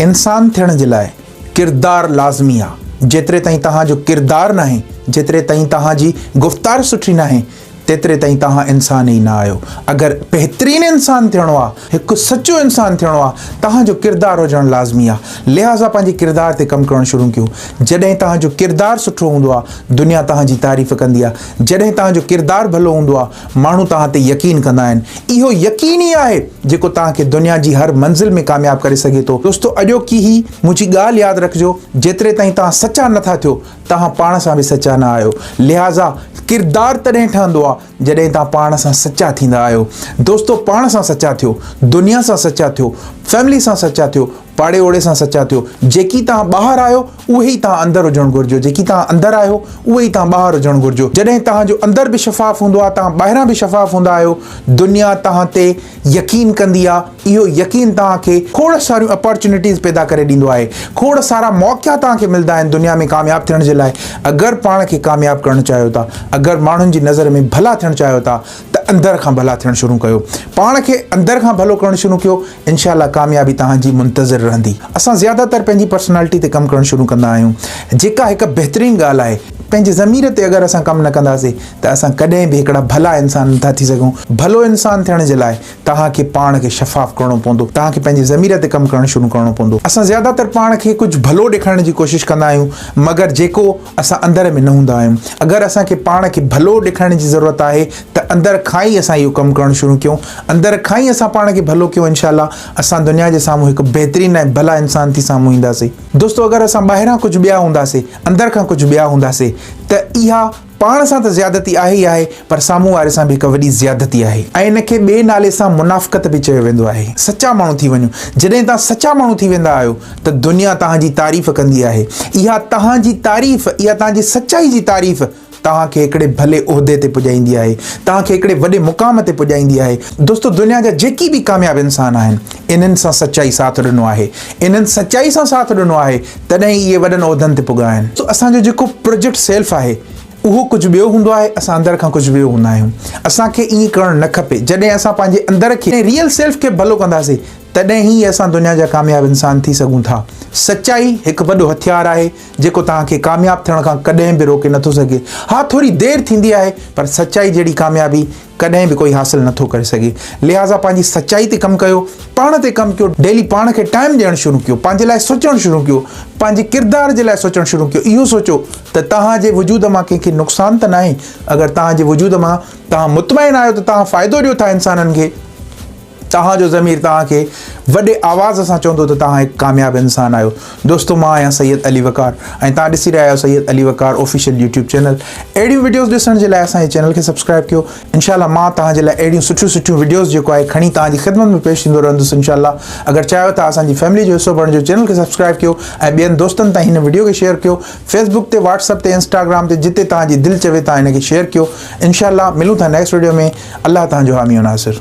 انسان ٿيڻ جي لاء ڪردار لازمي آ، جيتري تائين توهان جو ڪردار ناهي، جيتري تائين توهان جي گفتار سٺي ناهي، تيتري تائين توهان انسان ئي نه آهيو. اگر بهترين انسان ٿيڻو آ، هڪ سچو انسان ٿيڻو آ، توهان جو ڪردار هجڻ لازمي آ. لهٰذا پنهنجي ڪردار تي ڪم ڪرڻ شروع ڪيو. جڏهن توهان جو ڪردار سٺو هوندو آ، دنيا توهان جي تعريف ڪندي آ. جڏهن توهان جو ڪردار ڀلو هوندو آ، ماڻهو توهان تي يقين ڪندا آهن. اهو يقين ئي آهي جيڪو توهان کي دنيا جي هر منزل ۾ ڪامياب ڪري سگهي ٿو. دوستو اڄوڪي هي منهنجي ڳالهه ياد رکجو جيتري تائين توهان سچا نه ٿا ٿيو توهان پاڻ سان به سچا نه آهيو لهٰذا ڪردار تڏهن ٺهندو آهي جڏهن توهان پاڻ سان سچا ٿيندا آهيو دوستو پاڻ سان سچا ٿيو دنيا سان سچا ٿيو فيملي سان سچا ٿيو پاڙي اوڙي سان سچا ٿيو. جيڪي توهان ٻاهر آهيو، اهي ئي توهان اندر هجڻ گهرجو. جيڪي توهان اندر آهيو، اهي ئي توهان ٻاهر هجڻ گهرجو. جڏهن توهان جو اندر به شفاف هوندو آهي، توهان ٻاهران به شفاف هوندا آهيو. دنيا توهان تي يقين ڪندي آهي. اهو يقين توهان کي کوڙ ساريون اپارچونيٽيز پيدا ڪري ڏيندو آهي. کوڙ سارا موقعا توهان کي ملدا آهن دنيا ۾ ڪامياب ٿيڻ جي لاء. اگر پاڻ کي ڪامياب ڪرڻ چاهيو ٿا، اگر ماڻهن جي نظر ۾ ڀلا ٿيڻ چاهيو ٿا ته اندر کان ڀلا ٿيڻ شروع ڪيو. پاڻ کي اندر کان ڀلو ڪرڻ شروع ڪيو. انشاء الله ڪاميابي توهان جي منتظر رهندي. اسان زياده تر پنهنجي پرسنالٽي تي ڪم ڪرڻ شروع ڪندا آهيون جيڪا هڪ بهترين ڳالهه آهي. پنهنجي ضمير تي اگر اسان ڪم نه ڪنداسين ته اسان ڪڏهن به هڪڙا ڀلا انسان نٿا ٿي سگهون. ڀلو انسان ٿيڻ جي لاء توهان کي پاڻ کي شفاف ڪرڻو پوندو. توهان کي پنهنجي ضمير تي ڪم ڪرڻ شروع ڪرڻو پوندو. اسان زياده تر پاڻ کي ڪجهه ڀلو ڏيکارڻ جي ڪوشش ڪندا آهيون مگر جيڪو. اسان اندر ۾ نه هوندا آهيون. اگر اسان کي پاڻ کي ڀلو ڏيکارڻ جي ضرورت آهي ته اندر کان ئي اسان اهو ڪم ڪرڻ شروع ڪيون. اندر کان ئي اسان پاڻ کي ڀلو ڪيون انشاء الله اسان دنيا جي سامهون هڪ بهترين ۽ ڀلا انسان ٿي سامهون اينداسي. دوستو اگر اسان ٻاهران ڪجهه ٻيا هونداسي اندر کان ڪجهه ٻيا هونداسي ته اها پاڻ سان ته زيادتي آهي ئي آهي پر سامهون واري سان به هڪ وڏي زيادتي آهي ۽ ان کي ٻئي نالي سان منافقت به چيو ويندو آهي. سچا ماڻهو ٿي وڃو جڏهن توهان سچا ماڻهو ٿي ويندا آهيو ته دنيا توهان جي تعريف ڪندي آهي. اها توهان جي تعريف، اها توهان جي سچائي جي تعريف توهان کي هڪڙي ڀلي عهدي تي پڄائيندي آهي، توهان کي هڪڙي وڏي مقام تي پڄائيندي آهي. دوستو دنيا جا جيڪي به ڪامياب انسان آهن، انهن سان سچائي ساٿ ڏنو آهي. انهن سچائي سان ساٿ ڏنو آهي، تڏهن ئي اهي وڏن عهدن تي پڳا آهن. اسان جو جيڪو پروجيڪٽ سيلف آهي، اهو ڪجهه ٻيو هوندو آهي، اسان اندر کان ڪجهه ٻيو هوندا آهيون. اسان کي ائين ڪرڻ نه کپي. جڏهن اسان پنهنجي اندر کي، ريئل سيلف کي ڀلو ڪنداسين، تڏهن ئي اسان دنيا جا ڪامياب انسان ٿي سگهون ٿا. سچائي هڪ وڏو هٿيار آهي، جيڪو توهان کي ڪامياب ٿيڻ کان ڪڏهن به روڪي نٿو سگهي. ها ٿوري دير ٿيندي آهي، پر سچائي جهڙي ڪاميابي ڪڏهن به ڪوئي حاصل نٿو ڪري سگهي. لهٰذا پنهنجي سچائي تي ڪم ڪيو، پاڻ تي ڪم ڪيو، ڊيلي پاڻ کي ٽائيم ڏيڻ شروع ڪيو، پنهنجي لاء سوچڻ شروع ڪيو، پنهنجي ڪردار جي لاء سوچڻ شروع ڪيو، اهو سوچو ته توهان جي وجود مان ڪنهن کي نقصان ته ناهي، اگر توهان جي وجود مان توهان مطمئن آهيو ته توهان فائدو ڏيو ٿا انسانن کي، توهان جو ضمير توهان کي وڏي آواز سان چوندو ته توهان هڪ ڪامياب انسان آهيو دوستو مان آهيان سيد علي وقار ۽ توهان ڏسي رهيا آهيو Syed Ali Waqar official YouTube channel اهڙيون وڊيوز ڏسڻ جي لاء اسان جي چينل کي سبسڪرائب ڪيو انشاء الله مان توهان جي لاء اهڙيون سٺيون سٺيون وڊيوز جيڪو آهي کڻي توهان جي خدمت ۾ پيش ٿيندو رهندس انشاء الله اگر چاهيو ٿا اسان جي فيملي جو حصو بڻجو چينل کي سبسڪرائب ڪيو ۽ ٻين دوستن تائين هن وڊيو کي شيئر ڪيو فيسبوڪ تي واٽس اپ تي انسٽاگرام تي جتي توهان جي دل چوي توهان هن کي شيئر ڪيو انشاء الله ملون ٿا نيڪسٽ وڊيو ۾ الله توهان جو حامي و ناصر